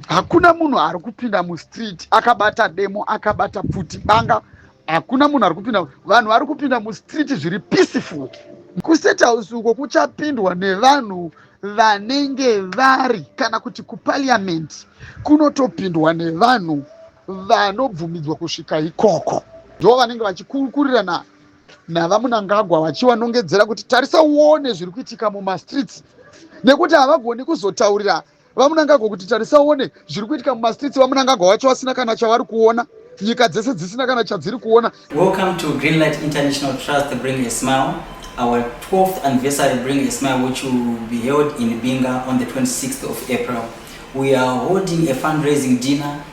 hakuna munhu ari kupinda mustreet akabata demo akabata pfuti banga hakuna munhu ari kupinda vanhu vari kupinda mustreet zviri peaceful kustate house uko kuchapindwa nevanhu vanenge vari kana kuti kupariament kunotopindwa nevanhu vanobvumidzwa kusvika ikoko ndo vanenge vachikurukurirana navamunangagwa vachivanongedzera kuti tarisa uone zviri kuitika mumastreets nekuti havagoni kuzotaurira vamunangagwa kuti tarisa uone zviri kuitika mumastreets vamunangagwa wacho vasina kana chavari kuona nyika dzese dzisina kana chadziri kuona welcome to greenlight international trust bring a smile our 12th anniversary bring a smile which will be held in binga on the 26th of april we are holding a fundraising dinner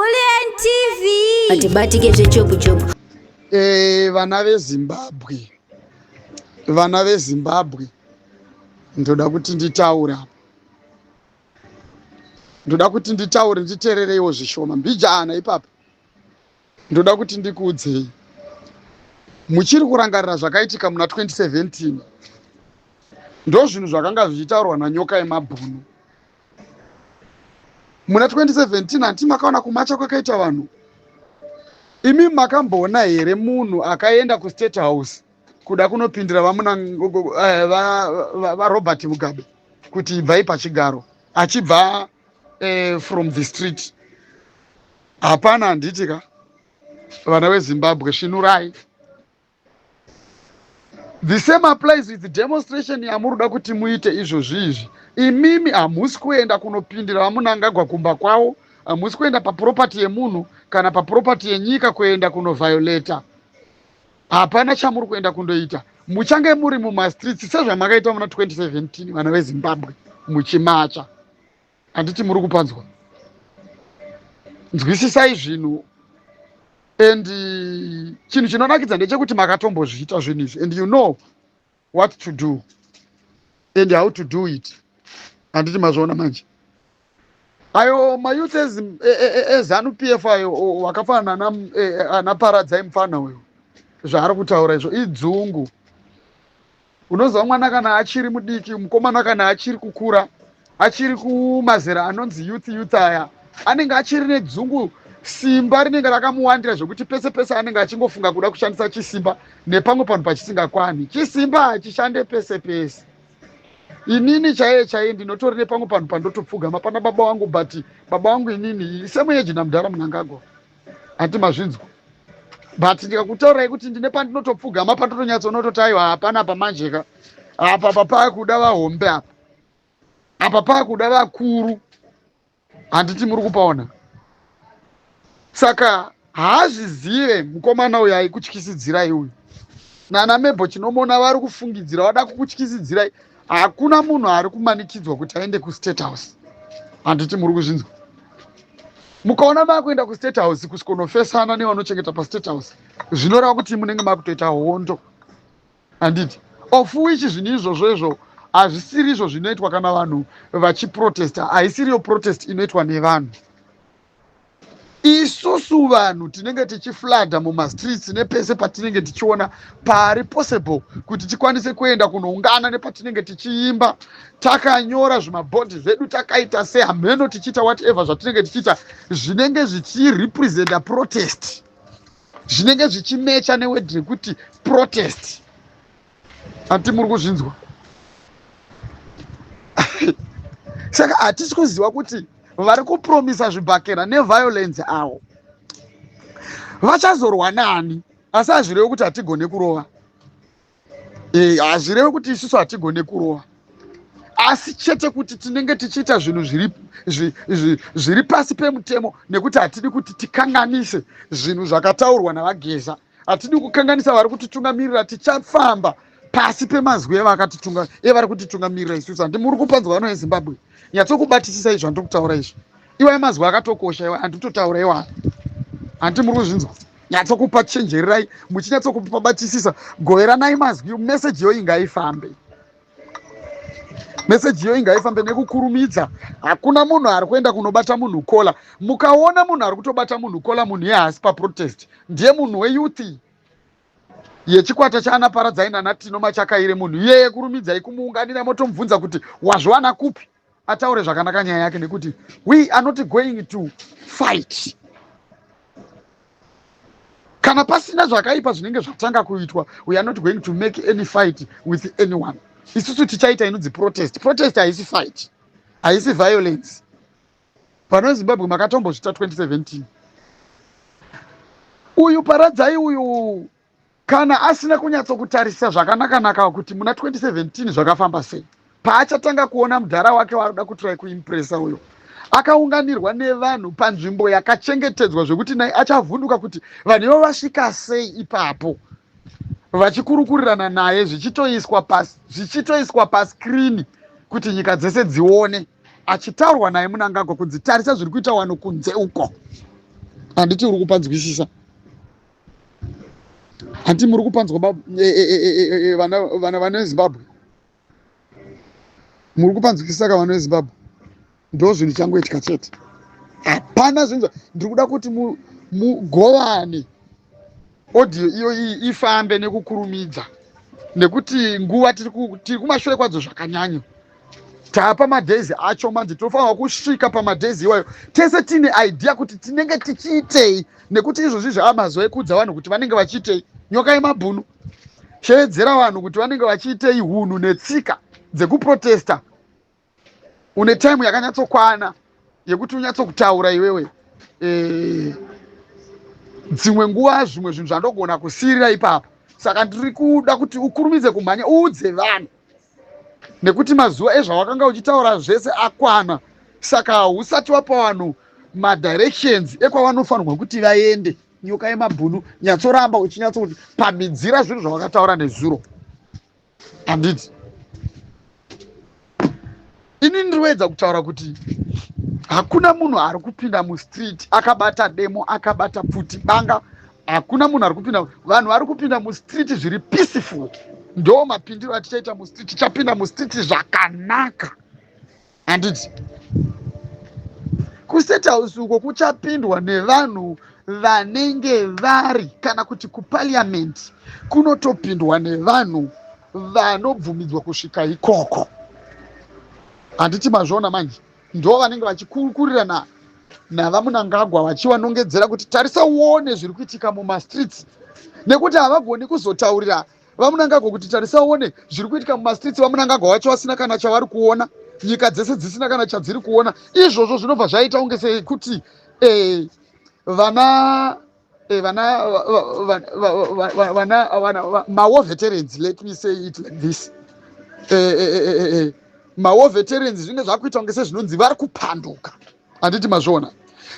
Kulien TV. Atibatike zvechopu chopu. Eh, vana veZimbabwe. Vana veZimbabwe. Ndoda kuti nditaura. Ndoda kuti nditaure nditerereiwo zvishoma. Mbijana ipapa. Ndoda kuti ndikuudzei. Muchiri kurangarira zvakaitika muna 2017. Ndozvinhu zvakanga zvichitaurwa nanyoka yemabhunu. muna 2017 hanti makaona kumacha kwakaita vanhu imi makamboona here munhu akaenda kustate house kuda kunopindira vamuna eh, varobert mugabe kuti ibvai pachigaro achibva eh, from the street hapana handiti ka vana vezimbabwe svinurai the same applies with demonstration yamuruda kuti muite izvozvi izvi imimi hamusi kuenda kunopindira vamunangagwa kumba kwavo hamusi kuenda papuropati yemunhu kana papuropati yenyika kuenda kunoviolata hapana chamuri kuenda kundoita muchange muri mumastreets sezvamakaita muna 2017 vana vezimbabwe muchimacha handiti muri kupanzwa nzwisisai zvinhu and uh, chinhu chinonakidza ndechekuti makatombozviita zvinhu izvi and you know what to do and how to do it handiti mazviona manje ayo mayouth ezanu e, e, e, p f ayo wakafanana anaparadzai mufana uyo zvaari kutaura izvo idzungu unoziva mwana kana achiri mudiki mukomana kana achiri kukura achiri kumazera anonzi youth youth aya anenge achiri nedzungu simba rinenge rakamuwandira zvekuti pese pese anenge achingofunga kuda kushandisa chisimba nepamwe panhu pachisingakwani chisimba hachishande pese pese inini chaiye chaiye ndinotori nepamwe panhu pandotopfugama pana baba wangu but baba wangu inini semuyeji namudhara munangagwa hati mazvinzwa but ndikakutaurai kuti ndine pandinotopfugama patotonyatsoonototi aiwa hapana apa manjeka apa papakuda vahombe apa apa pakuda vakuru handiti muri kupaona saka haazvizive mukomana uyo aikutyisidzirai uyu nana mebho chinomona vari kufungidzira vada kukutyisidzirai hakuna munhu ari kumanikidzwa kuti aende kustate house handiti muri kuzvinzwa mukaona makuenda kustate house kusvikonofesana nevanochengeta pastate house zvinoreva kuti munenge makutoita hondo handiti of which zvinhu izvozvo izvo hazvisiri izvo zvinoitwa kana vanhu vachiprotesta haisiriyo protest inoitwa nevanhu isusu vanhu tinenge tichifladha mumastreets nepese patinenge tichiona pari possible kuti tikwanise kuenda kunoungana nepatinenge tichiimba takanyora zvimabhodhi zvedu takaita sehamheno tichiita whatever zvatinenge tichiita zvinenge zvichirepresenta protest zvinenge zvichimecha newedhi rekuti protest ati muri kuzvinzwa saka hatisi kuziva kuti vari kupromisa zvibhakera neviolence awo vachazorwa nani asi hazvirevi kuti hatigone kurova eh, hazvirevi kuti isusu hatigone kurova asi chete kuti tinenge tichiita zvinhu zviri pasi pemutemo nekuti hatidi kuti tikanganise zvinhu zvakataurwa navageza hatidi kukanganisa vari kutitungamirira tichafamba pasi pemazwi evari kutitungamirira isusu handi muri kupanzwa vano yezimbabwe nyatsokubatisisa izvo handiri kutaura izvo iwayo mazwi akatokosha iwa handitotaura iwaa handi muri kuzvinzwa nyatsokupa chenjererai muchinyatsokupabatisisa goveranai mazwi meseji yoyi ngaifambe meseji iyo inga ifambe nekukurumidza hakuna munhu ari kuenda kunobata munhu kola mukaona munhu ari kutobata munhu kola munhu iye haasi paprotest ndiye munhu weyuthi yechikwata chaana paradzai nanatino machakaire munhu iyeye kurumidzai kumuunganira motomubvunza kuti wazviwana kupi ataure zvakanaka nyaya yake nekuti we are not going to fight kana pasina zvakaipa zvinenge zvatanga kuitwa we are not going to make any fight with anyone isusu tichaita inonzi protest protest haisi fight haisi violence pano zimbabwe makatombozvita 2017 uyu paradzai uyu Kana asina kunyatsokutarisa zvakanaka-naka kuti muna 2017 zvakafamba sei, paachatanga kuona mudhara wake waanoda kutry kuimpresa uyo akaunganirwa nevanhu panzvimbo yakachengetedzwa zvekuti nai achavhunduka kuti vanhu ivo vasvika sei ipapo vachikurukurirana naye zvichitoiswa pasi zvichitoiswa paskrini kuti nyika dzese dzione achitaurwa naye munangagwa kunzi tarisa zviri kuita wano kunze uko handiti uri kupanzwisisa hanti muri kupanzwa baba eh, eh, eh, vana vana vana vezimbabwe muri kupanzwisisa ka vana vezimbabwe ndo zvinhu changoitika chete hapana zvinhu ndiri kuda kuti mugovane audio iyo iyi ifambe nekukurumidza nekuti nguva tiri kumashure kwadzo zvakanyanya taapa madays acho manje tinofanirwa kusvika pamadays iwayo tese tiine idea kuti tinenge tichiitei nekuti izvozvi zvava mazuva ekuudza vanhu kuti vanenge vachiitei nyoka yemabhunu sheedzera vanhu kuti vanenge vachiitei hunhu netsika dzekuprotesta une time yakanyatsokwana yekuti unyatsokutaura iwewe eh, dzimwe e, nguva zvimwe zvinhu zvandogona kusirira ipapo saka ndiri kuda kuti ukurumidze kumhanya uudze vanhu nekuti mazuva ezvawakanga uchitaura zvese akwana saka hausati wapa vanhu madirections ekwavanofanirwa kuti vaende nyoka yemabhunu nyatsoramba uchinyatso kuti pamidzira zvinhu zvawakataura nezuro handiti ini ndinoedza kutaura kuti hakuna munhu ari kupinda mustreet akabata demo akabata pfuti banga hakuna munhu ari kupinda vanhu vari kupinda mustreet zviri peaceful ndo mapindiro atichaita mustreet tichapinda mustreet zvakanaka handiti kustate house uko kuchapindwa nevanhu vanenge vari kana kuti kupaliamendi kunotopindwa nevanhu vanobvumidzwa kusvika ikoko handiti mazviona manje ndo vanenge vachikurukurirana navamunangagwa vachivanongedzera kuti tarisa uone zviri kuitika mumastreets nekuti havagoni kuzotaurira vamunangagwa kuti tarisa uone zviri kuitika mumastreets vamunangagwa vacho vasina kana chavari kuona nyika dzese dzisina kana chadziri kuona izvozvo zvinobva zvaita kunge sekuti eh, vana eh, vana vana vana mawar veterans let me say it like this eh, eh, mawar veterans zvinenge zvakuita kunge sezvinonzi vari kupanduka handiti mazviona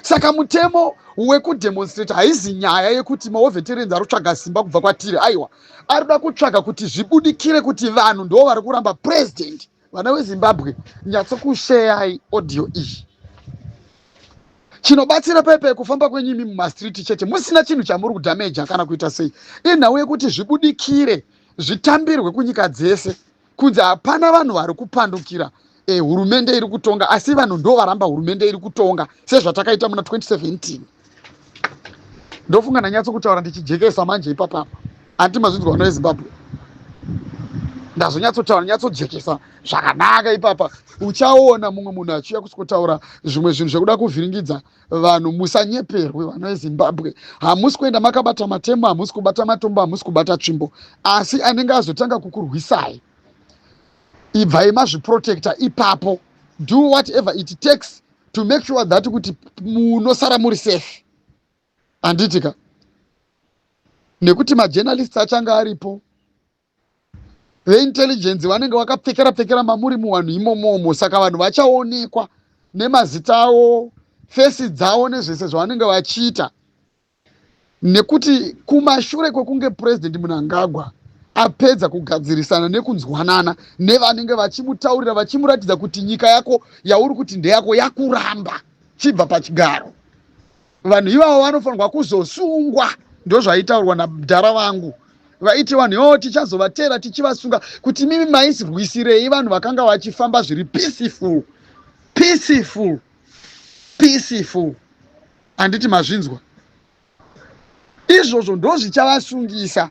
saka mutemo wekudemonstrate haizi nyaya yekuti mawar veterans ari kutsvaga simba kubva kwatiri aiwa ari kuda kutsvaga kuti zvibudikire kuti vanhu ndo vari kuramba president vana wezimbabwe nyatsokusheyai audio iyi chinobatsira pepe kufamba kwenyu imi mumastreet chete musina chinhu chamuri kudhameja kana kuita sei inhau yekuti zvibudikire zvitambirwe kunyika dzese kunzi hapana vanhu vari kupandukira eh, hurumende iri kutonga asi vanhu ndo varamba hurumende iri kutonga sezvatakaita muna 2017 ndofunga ndanyatso kutaura ndichijekesa manje ipapapa anti mazvinzwa vana vezimbabwe ndazonyatsotaura nyatsojekesa zvakanaka ipapa uchaona mumwe munhu achiuya kusikotaura zvimwe zvinhu zvekuda kuvhiringidza vanhu musanyeperwe vana vezimbabwe hamusi kuenda makabata matemo hamusi kubata matombo hamusi kubata tsvimbo asi anenge azotanga kukurwisai ibvai mazviprotecta ipapo do whatever it takes to make sure that kuti munosara muri safe handiti ka nekuti majournalists achanga aripo veintelligence vanenge vakapfekera pfekera mamuri muwanhu imomomo saka vanhu vachaonekwa nemazita avo fesi dzavo nezvese zvavanenge vachiita nekuti kumashure kwekunge purezidhendi munangagwa apedza kugadzirisana nekunzwanana nevanenge vachimutaurira vachimuratidza kuti nyika yako yauri kuti ndeyako yakuramba chibva pachigaro vanhu ivavo vanofanirwa kuzosungwa ndozvaitaurwa namdhara vangu vaiti vanhu ivavo tichazovatera tichivasunga kuti mimi maisirwisirei vanhu vakanga vachifamba zviri peaceful peaceful peaceful handiti mazvinzwa izvozvo ndozvichavasungisa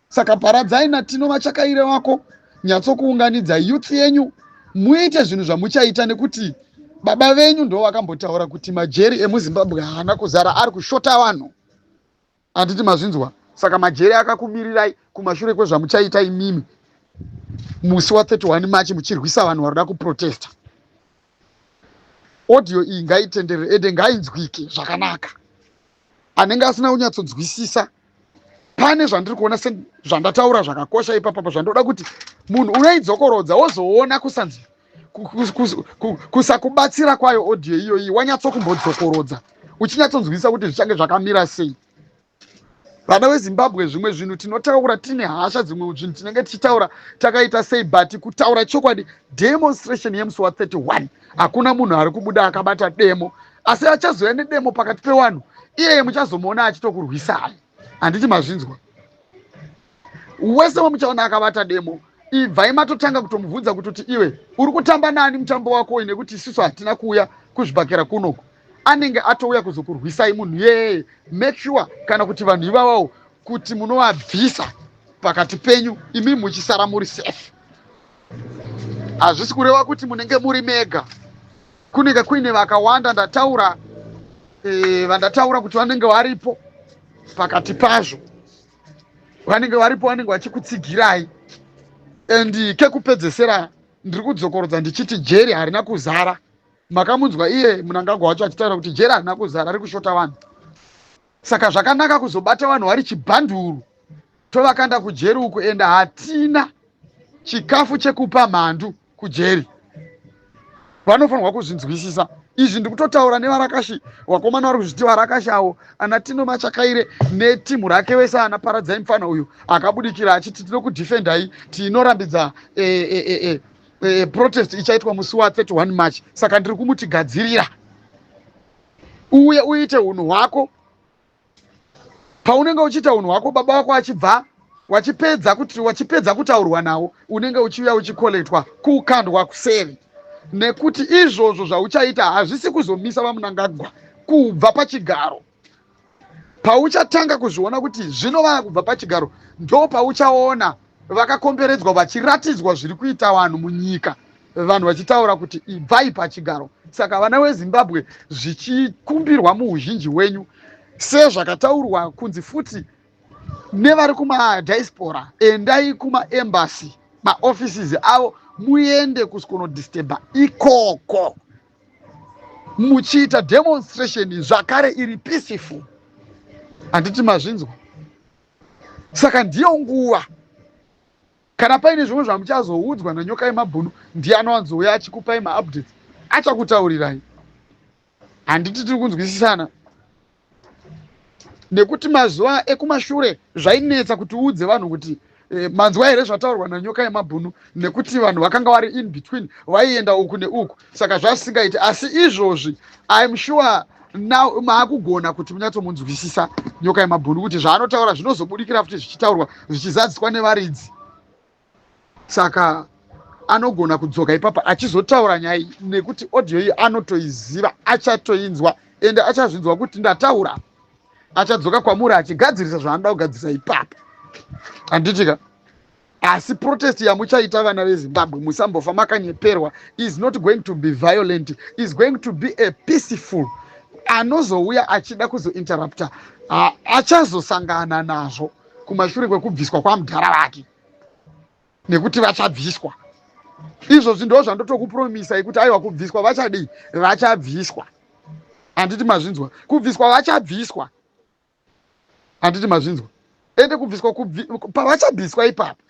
saka paradzai natino vachakaire wako nyatsokuunganidza youth yenyu muite zvinhu zvamuchaita nekuti baba venyu ndo vakambotaura kuti majeri emuzimbabwe haana kuzara ari kushota vanhu Handiti mazvinzwa? Saka majeri akakumirirai kumashure kwezvamuchaita imimi musi wa 31 March muchirwisa vanhu vanoda kuprotesta. Audio iyi ngaitenderere ende ngainzwike zvakanaka. Anenge asina kunyatsodzwisisa pane zvandiri kuona se zvandataura zvakakosha ipapa pazvandoda kuti munhu unoidzokorodza wozoona kusanzi kusakubatsira kwayo audio iyoyi wanyatsokumbodzokorodza uchinyatsonzwisisa kuti zvichange zvakamira sei vana vezimbabwe zvimwe zvinhu tinotaura tine hasha dzimwe zvinhu tinenge tichitaura takaita sei but kutaura chokwadi demonstration yemusi wa 31 hakuna munhu ari kubuda akabata demo asi achazouya nedemo pakati pewanhu iyeye muchazomuona achitokurwisai handiti mazvinzwa wese wamuchaona akabata demo ibvai matotanga kutomubvunza kuti kuti iwe uri kutamba nani mutambo wako uyu nekuti isusu hatina kuuya kuzvibhakera kunoku anenge atouya kuzokurwisai munhu yeye make sure kana kuti vanhu ivavawo kuti munovabvisa pakati penyu imi muchisara muri safe hazvisi kureva kuti munenge muri mega kunenge kuine vakawanda ndataura e, vandataura kuti vanenge varipo pakati pazvo vanenge varipo vanenge vachikutsigirai and kekupedzesera ndiri kudzokorodza ndichiti jeri harina kuzara makamunzwa iye munangagwa wacho achitaura kuti jeri harina kuzara ari kushota vanhu saka zvakanaka kuzobata vanhu vari chibhanduru tovakanda kujeri uko ende hatina chikafu chekupa mhandu kujeri vanofanirwa kuzvinzwisisa izvi ndikutotaura nevarakashi vakomana vari kuzviti varakashi avo ana tino machakaire netimhu rake vese ana paradzai mufana uyu akabudikira achiti tino kudefendai tinorambidza e, e, e, e, protest ichaitwa musi wa 31 march saka ndiri kumutigadzirira uye uite unhu hwako paunenge uchiita unhu hwako baba wako achibva wachipedza kuti wachipedza kutaurwa nawo unenge uchiuya uchikoletwa kukandwa kuseri nekuti izvozvo zvauchaita hazvisi kuzomisa vamunangagwa kubva pachigaro pauchatanga kuzviona kuti zvinova kubva pachigaro ndo pauchaona vakakomberedzwa vachiratidzwa zviri kuita vanhu munyika vanhu vachitaura kuti ibvai pachigaro saka vana wezimbabwe zvichikumbirwa muuzhinji hwenyu sezvakataurwa kunzi futi nevari kumadiaspora endai kumaembasy maoffices avo muende kuskonodisteba ikoko muchiita demonstration zvakare iri peaceful handiti mazvinzwa saka ndiyo nguva kana paine zvimwe zvamuchazoudzwa nanyoka yemabhunu ndiye anowanzouya achikupai maupdates achakutaurirai handiti tiri kunzwisisana nekuti mazuva ekumashure zvainetsa kuti uudze vanhu kuti eh, manzwa here zvataurwa nanyoka yemabhunu nekuti vanhu vakanga vari in between vaienda uku neuku saka zvasisingaiti asi izvozvi im sure now maakugona kuti munyatsomunzwisisa nyoka yemabhunu kuti zvaanotaura zvinozobudikira futi zvichitaurwa zvichizadziswa nevaridzi saka anogona kudzoka ipapa achizotaura nyaya iyi nekuti audio iyi anotoiziva achatoinzwa ende achazvinzwa kuti ndataura achadzoka kwamuri achigadzirisa zvaanoda kugadzirisa ipapa handitika asi protest yamuchaita vana vezimbabwe musambofa makanyeperwa is not going to be violent is going to be a peaceful anozouya achida kuzointerrupta achazosangana nazvo kumashure kwekubviswa kwamudhara vake nekuti vachabviswa izvozvi ndo zvandotokupromisai kuti aiwa kubviswa vachadii vachabviswa handiti mazvinzwa kubviswa vachabviswa handiti mazvinzwa ende kubviswa kubvi, pavachabviswa ipapo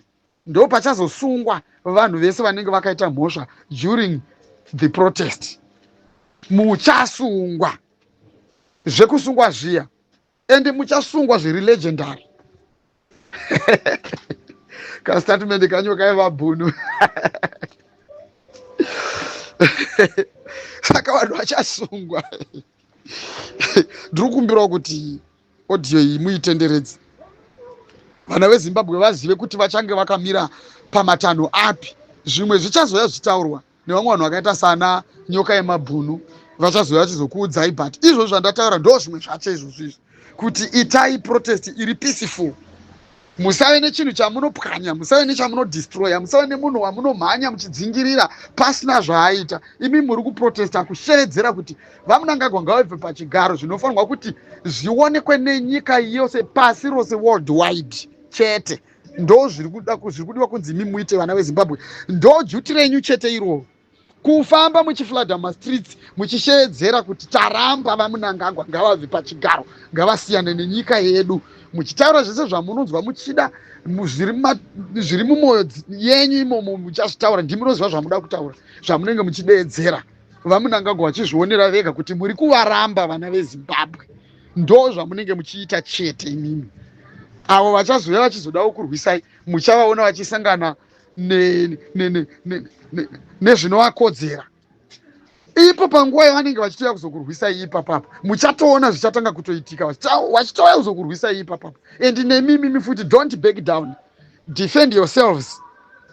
ndo pachazosungwa vanhu vese vanenge vakaita mhosva during the protest muchasungwa zvekusungwa zviya ende muchasungwa zviri legendary kastatement kanyo kaiva bhunu saka vanhu vachasungwa ndiri kumbirawo kuti audio iyi muitenderedze vana vezimbabwe vazive kuti vachange vakamira pamatanho api zvimwe zvichazoya zvitaurwa nevamwe vanhu vakaita sana nyoka yemabhunu vachazouya vachizokuudzai but izvozvo zvandataura ndo zvimwe zvacho izvozvo izvi kuti itai protest iri peaceful musave nechinhu chamunopwanya musave nechamunodestroya musave nemunhu wamunomhanya muchidzingirira pasina zvaaita imi muri kuprotesta kusheedzera kuti vamunangagwa ngavabve pachigaro zvinofanirwa kuti zvionekwe nenyika yose pasi rose world wide chete ndo zviri kudiwa kunzi imi muite vana vezimbabwe ndo juti renyu chete iroo kufamba muchifladha mumastreets muchisheedzera kuti taramba vamunangagwa ngavabve pachigaro ngavasiyane nenyika yedu muchitaura zvese zvamunonzwa muchida zviri mumwoyo yenyu imomo muchazvitaura ndimunoziva zvamuda kutaura zvamunenge muchideedzera vamunangagwa vachizvionera vega kuti muri kuvaramba vana vezimbabwe ndo zvamunenge muchiita chete imimi avo vachazouya vachizodawo kurwisai muchavaona vachisangana nezvinovakodzera ipo panguva yavanenge vachitouya kuzokurwisai ipapapa muchatoona zvichatanga kutoitika vachitouya kuzokurwisai ipapapa and nemimimi futi don't back down defend yourselves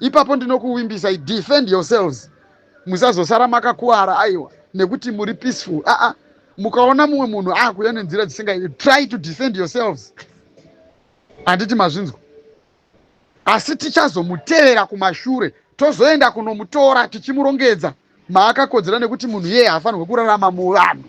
ipapo ndinokuvimbisai defend yourselves musazosara makakuvara aiwa nekuti muri peaceful aa ah, ah. mukaona mumwe munhu akuuya nenzira dzisingai try to defend yourselves handiti mazvinzwa asi tichazomutevera kumashure tozoenda kunomutora tichimurongedza maakakodzera nekuti munhu iyeye haafanirwe kurarama muvanhu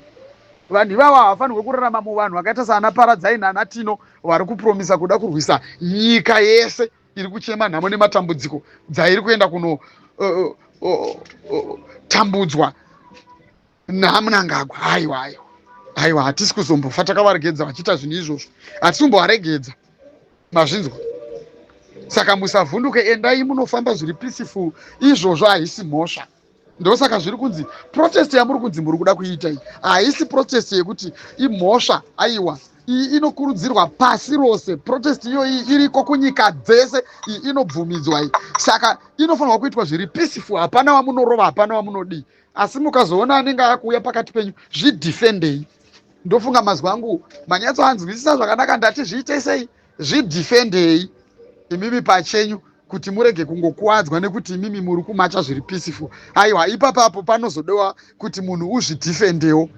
vanhu ivavo havafanirwe kurarama muvanhu vakaita saana paradzaini ana tino vari kupromisa kuda kurwisa nyika yese iri kuchema nhamo nematambudziko dzairi kuenda kuno uh, uh, uh, tambudzwa namunangagwa haiwa haiwa haiwa hatisi kuzombofa takavaregedza vachiita zvinhu izvozvo hatisi kumbovaregedza mazvinzwa saka musavhunduke endai munofamba zviri peaceful izvozvo haisi mhosva ndosaka zviri kunzi protest yamuri kunzi muri kuda kuiita iyi haisi protest yekuti imhosva aiwa iyi inokurudzirwa pasi rose protest iyoyi iriko kunyika dzese iyi inobvumidzwa iyi saka inofanirwa kuitwa zviri peaceful hapana wamunorova hapana wamunodii asi mukazoona anenge akuuya pakati penyu zvidefendei ndofunga mazwi angu manyatsoanzwisisa zvakanaka ndati zviitei sei Zvidhifendei imimi pachenyu kuti murege kungokuwadzwa nekuti imimi muri kumacha zviri peaceful. Aiwa ipapapo panozodewa kuti munhu uzvidhifendewo.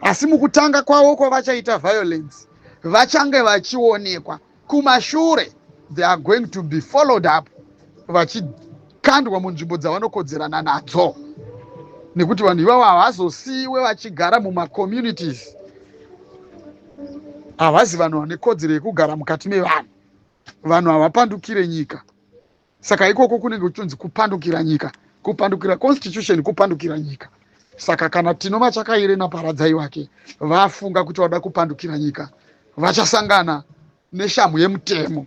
Asi mukutanga kwavo kwavachaita violence vachange vachionekwa kumashure they are going to be followed up vachikandwa munzvimbo dzavanokodzerana nadzo nekuti vanhu ivavo havazosiyiwe vachigara mumacommunities havazi vanhu vane kodzero yekugara mukati mevanhu vanhu havapandukire nyika saka ikoko kunenge kuchonzi kupandukira nyika kupandukira constitution kupandukira nyika saka kana tino machakaire naparadzai wake vafunga kuti vada kupandukira nyika vachasangana neshamhu yemutemo